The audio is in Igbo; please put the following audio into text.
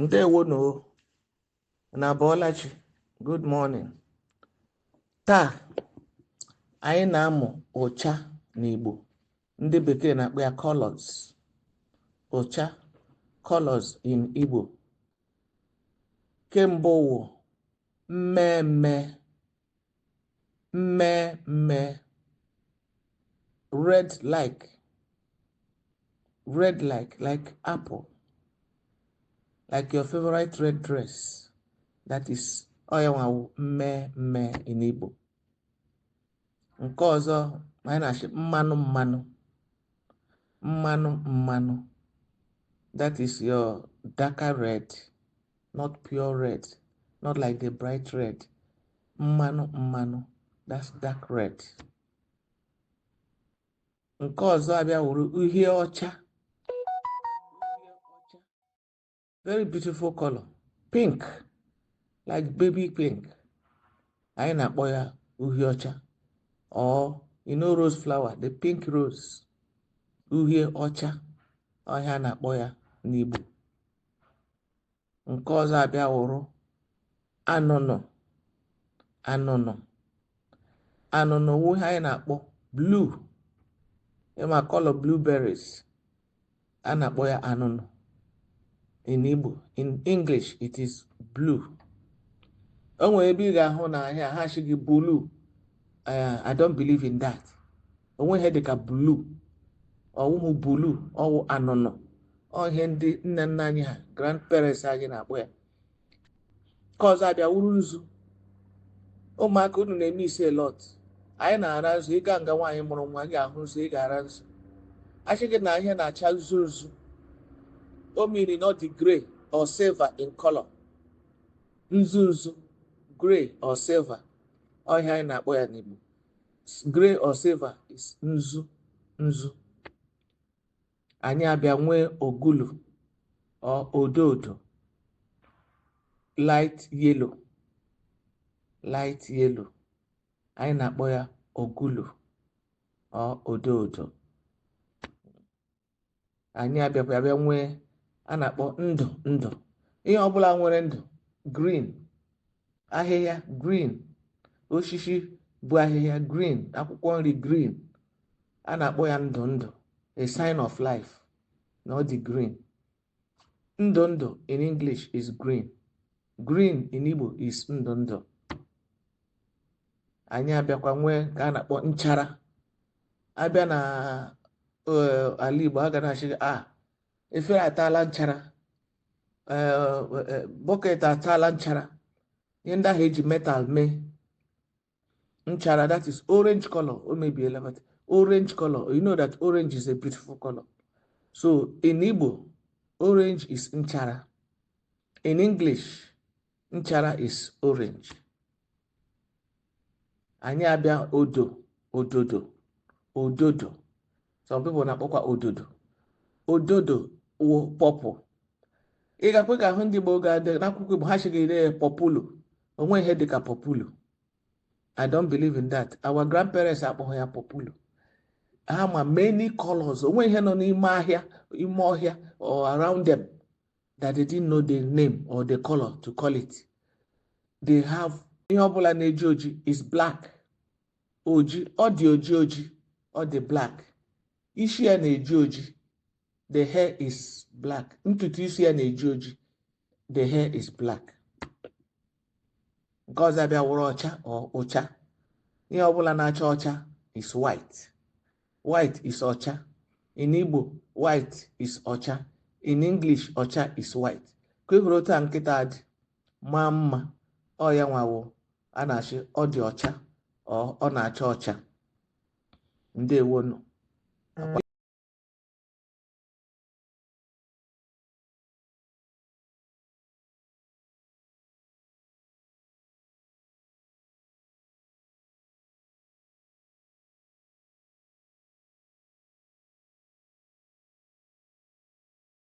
ndewo nụ o unu abọọla chi good morning taa anyị na-amụ ụcha n'igbo ndị bekee na-akpọ ya colors ụcha colors in igbo nke mbụ wụ mmee mmee mmee mmee red like red like like apple like your favorite red dress that is ọ ya nwa wụ mmee mmee in Igbo nke ọzọ anyị na-asị mmanụ mmanụ mmanụ mmanụ that is your darker red not pure red not like the bright red mmanụ mmanụ that's dark red nke ọzọ abịa wụrụ uhie ọcha very beautiful color pink like baby pink anyị na-akpọ ya uhie ọcha or you know rose flower the pink rose uhie ọcha ọ ihe a na-akpọ ya n'Igbo nke ọzọ abịa wụrụ anụnụ anụnụ anụnụ wụ ihe anyị na-akpọ blue ị ma color blueberries a na-akpọ ya anụnụ in Igbo in English it is blue o nwere ebe ị ga-ahụ na ahịa ha sị gị bulu eh, I don't believe in that o nweghị ihe dịka bulu ọ wụhụ bulu ọ wụ anụnụ ọ ihe ndị nne nna anyị ha grandparents anyị na-akpọ ya nke ọzọ abịa wụrụ nzu ụmụaka unu na-eme ise lot anyị na-ara nzu ị gaa nga nwaanyị mụrụ nwa gị ahụ nzu ị ga-ara nzu a sị gị na ihe na-acha nzu nzu ọ mean na ọ dị grey or silver in color nzu nzu grey or silver ọ ihe anyị na-akpọ ya n'Igbo gray or silver is nzu nzu anyị abịa nwee ogulu or odo odo light yellow light yellow anyị na-akpọ ya ogulu or odo odo anyị abịakwa abịa nwee a na-akpọ ndụ ndụ ihe ọbụla nwere ndụ green ahịhịa green osisi bụ ahịhịa green akwụkwọ nri green a na-akpọ ya ndụ ndụ a sign of life na ọ dị green Ndụ ndụ in English is green. Green in Igbo is ndụ ndụ. Anyị abịakwa nwee nke a na-akpọ nchara. A bịa na eh, ala Igbo a ga na-asị a ah, efere ataala nchara eh, eh, bọket ataala nchara ihe ndị ahụ e ji metal mee nchara that is orange color o mebiela but orange color you know that orange is a beautiful color so in Igbo orange is nchara in English nchara is orange anyị abịa odo ododo ododo some people na-akpọkwa ododo ododo wụ purple ị gakwa ga-ahụ ndị Igbo ga-adị n'akwụkwọ Igbo ha sị gị dee ya pọpulu o nwe ihe dịka pọpulu I don't believe in that our grandparents akpọghị ya pọpulu ha ma many colors o nwe ihe nọ n'ime ahịa ime ọhịa or around them that they didn't know the name or the color to call it they have ihe ọbụla na-eji oji is black oji ọ dị oji oji ọ dị black isi ya na-eji oji the hair is black ntutu isi ya na-eji oji the hair is black nke ọzọ abịa wụrụ ọcha or ụcha ihe ọbụla na-acha ọcha is white white is ọcha in Igbo white is ọcha in English ọcha is white ka ị hụrụ otu a nkịta a dị maa mma ọ ya nwa wụ a na-asị ọ dị ọcha or ọ na-acha ọcha ndewonu